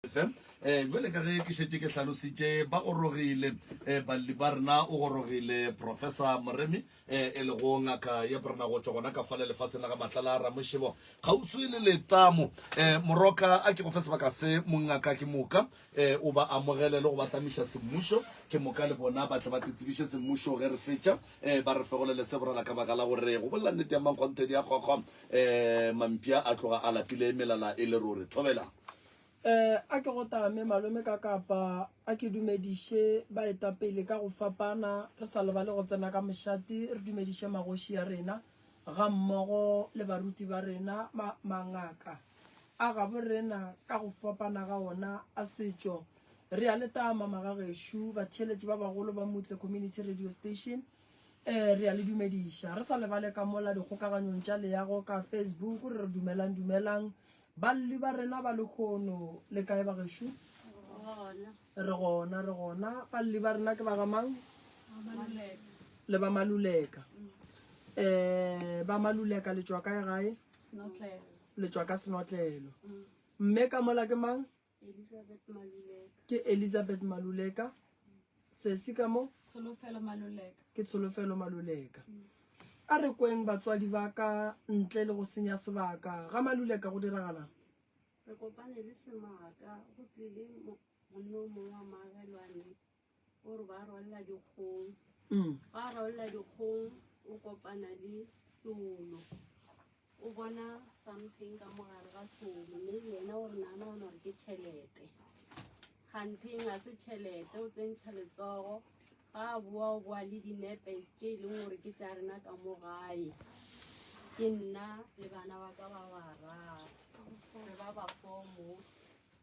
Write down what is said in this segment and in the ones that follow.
Um eh, jale ka ge ke šetse ke hlalositše ba gorogile um eh, balli ba rena o gorogile professor moremi um eh, e lego ngaka ye brena go tswa gona ka fale lefaseng la ga matlala a ramošebo kgauswi le letamo um moroka a ke go fe sebaka se mongaka ke moka um o ba amogele le go ba tamiša semmušo ke moka le bona ba tle ba tetsebiše semmušo ge re fetša um ba re fegolele se borala ka baka la gore go bolela nnete ya mankgonthedi ya kgokgo Eh, mampia a tloga a lapile melala e le ruri. Thobelang. Eh, a ke go tame malome ka kapa a ke dumediše ba eta pele ka go fapana re sa lebale go tsena ka mošate re dumediše magoši ya rena ga mmogo le baruti ba rena ma, mangaka a gabo rena ka go fapana ga ona a setšo re a le tama magagešu batheeletši ba bagolo ba motse community radio station Ee, re a le dumediša. Re sa lebale ka mola dikgokaganyong tša leago ka Facebook re re dumelang dumelang. Balli ba rena ba lekhono le kae ba gešo? Re gona, re gona. Balli ba rena ke ba ga mang? Le ba Maluleka. Eh, ba Maluleka le tšwa kae gae? Le tšwa ka Senotlelo. Mme ka mola ke mang? Elizabeth Maluleka. Ke Elizabeth Maluleka. Sesi ka mo? Tsholofelo Maluleka. Ke Tsholofelo Maluleka. Mm. A re kweng batswadi ba ka ntle le go senya sebaka. Ga Maluleka go diragalang? Re kopane le semaka go tlile monno mongwe wa maagelwane o re ba rolela dikgong mm. ba rolela dikgong o kopana le solo o bona something ka mogare ga solo mme yena o re nana o nore ke tšhelete gantheng ga se tšhelete o tsentšha letsogo ga a boa o boa le dinepe tše e leng gore ke tša rena ka mo gae ke nna le bana ba ka ba bararo re ba ba fomo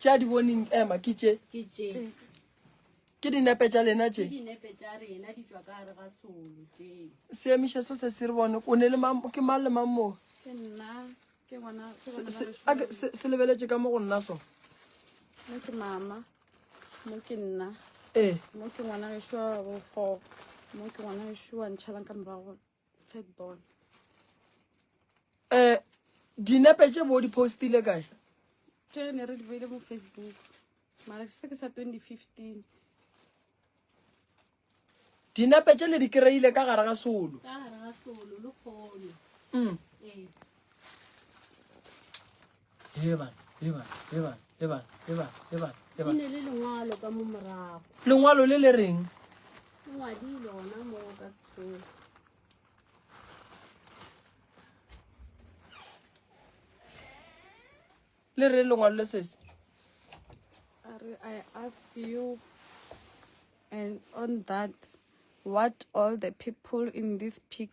tša di boning ema ke tše ke dinepe tša lena tše seemiša so se se re bone o ne le ke mang le mang moo se lebeletše ka mo go nna so mo ke mama mo ke nna ee mo ke ngwana geso wa bofo mo ke ngwana geso wa ntšhalang ka morago third born eh dinepe tše bo di postile kae tše ne re di beile mo facebook mara ke se ke sa 2015 dinepe tše le di kry-ile ka gare ga solo ka gare ga solo le kgono mm. ee lengwalo le le reng le re lengwalo le sese I ask you and on that what all the people in this picture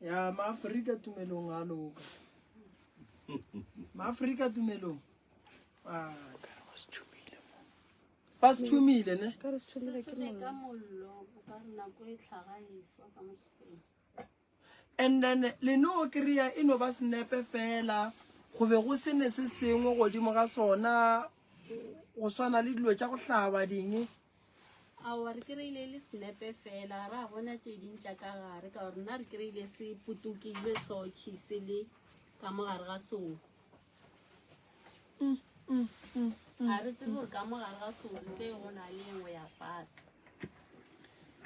ya maafrika tumelong a loka maafrika tumelong ba se thomile ne and then le no kry-a e no ba senepe fela go be go sene se sengwe godimo ga sona go swana le dilo tša go hlaba ding Aowa, re kry-ile e le snepe fela, ra bona tše ding tša ka gare, ka gore nna re kry-ile se putokile soki se le ka mo gare ga soko. Ga re tsebe gore ka mo gare ga soko se go na le engwe ya fase.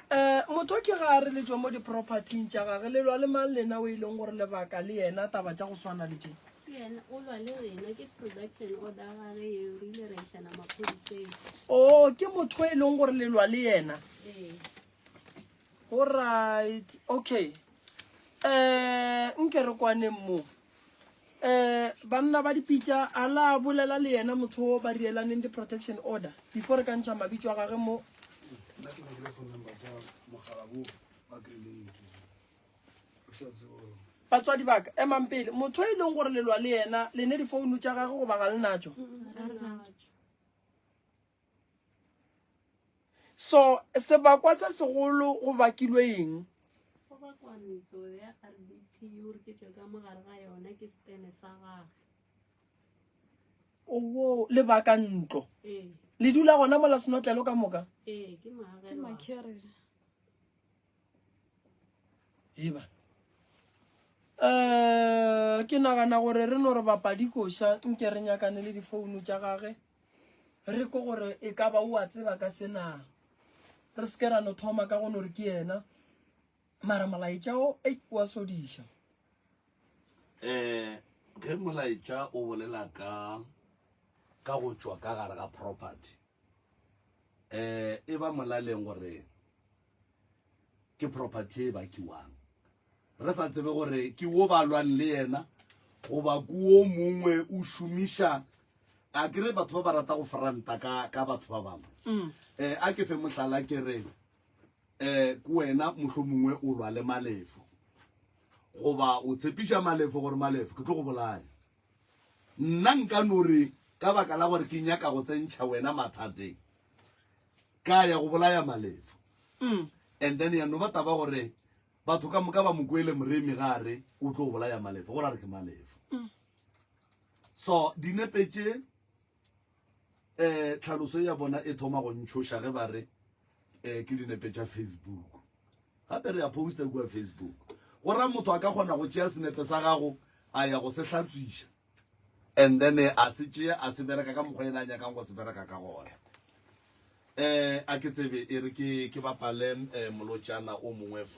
Eh, motho ke ga a re le tšwe mo di-propertyng tša gage le lwa le mang lena o e leng gore lebaka le yena taba tša go swana le tše o ke motho e leng gore lelwa le yena alright okay um nke re kwaneng moo um banna ba dipitša a la bolela le yena motho o ba rielaneng di-protection order before re ka ntšha mabitso a gage mo batswadi baka emang pele motho e leng gore lelwa le yena le ne difounu tša gage goba ga le natso so sebakwa se segolo go bakilwe eng owo lebaka ntlo le dula gona mola senotlelo ka moka eba um ke nagana gore re no re bapadi koša nke re nyakane le difouno tša gage re ko gore e ka ba o a tseba ka senang re se ke ra no thoma ka go no re ke yena mara molaetšao e wa sodiša um ge molaetša o bolela ka ka go tšwa ka gare ga property eh e ba molaleng gore ke property e ba kiwang re sa tsebe gore ke wo ba lwang le yena goba kuo mongwe o šomiša a kere batho ba ba rata go franta ka ka batho ba bangwe um a ke fe mohlala ke re um ko wena motlho mongwe o lwa le malefo goba o tshepiša malefo gore malefo ke tlo go bolaya Nna nka no re, Ka baka la gore ke nyaka go tsentšha wena mathateng, ka ya go bolaya Malefo. And then ya no ba taba gore batho ka moka ba mo kwele moremi ga a re o tlo bolaya Malefo, gore a re ke Malefo. So dinepe tše. um tlhaloso ya bona e thoma go ntšhoša ge ba re um ke dinepe tša facebook gape re a posta kua facebook go ra motho a ka kgona go tšea senepe sa gago a ya go se hlatswiša and then eh, a se tšea a se bereka ka mokgwa ena a nyakang go se bereka ka gona um a ke tsebe e re ke bapale um molotšana o mongwe fa